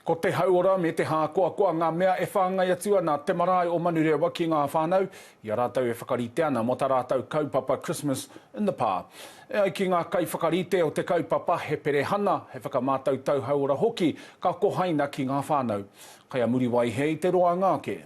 Ko te hauora me te hākoakoa ngā mea e whāngai atu ana te marae o Manurewa ki ngā whānau, i a rātou e whakarite ana mō tā rātou kaupapa Christmas in the Pā. E ai ki ngā kaiwhakarite o te kaupapa, he perehana, he whakamātautau hauora hoki ka kohaina ki ngā whānau. Kai a Muriwai he i te roanga ake.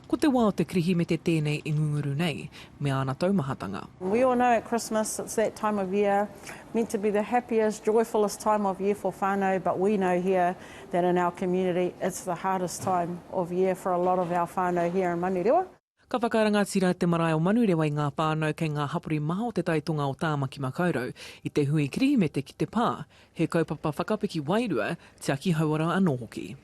Ko te wā o te Kirihimete tēnei i ngunguru nei, me āna taumahatanga. We all know at Christmas it's that time of year meant to be the happiest, joyfullest time of year for whanau but we know here that in our community it's the hardest time of year for a lot of our whanau here in Manurewa. Ka whakarangatira te marae o Manurewa i ngā whānau kei ngā hapori maha o Te Tai Tonga o Tāmaki Makaurau i te hui Kirihimete ki te pā, he kaupapa whakapiki wairua, tiaki hauora anō hoki.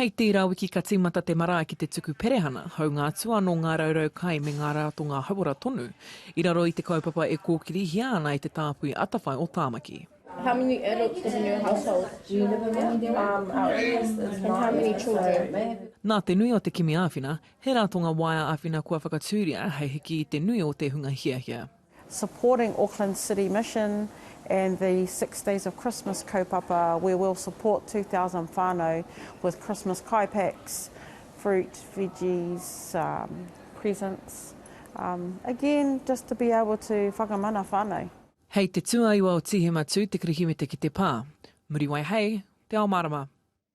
Hei tērā wiki ka tīmata te marae ki te tuku perehana, hāunga atu anō ngā raurau kai me ngā rātonga hauora tonu, i raro i te kaupapa e kōkirihia ana e te Tāpui Atawhai o Tāmaki. How many adults live in your household? Do you live alone? Um, our eldest is nine. And how many children? Nā te nui o te kimi āwhina, he rātonga waea āwhina kua whakatūria hei hiki i te nui o te hunga hiahia. supporting Auckland City Mission and the Six Days of Christmas kaupapa where we'll support 2,000 whanau with Christmas kai packs, fruit, veggies, um, presents, um, again just to be able to whakamana whanau. Hei te tuaiwa o Tīhema Tū te kirihimete ki te pā. Muriwai Hei te ao mārama.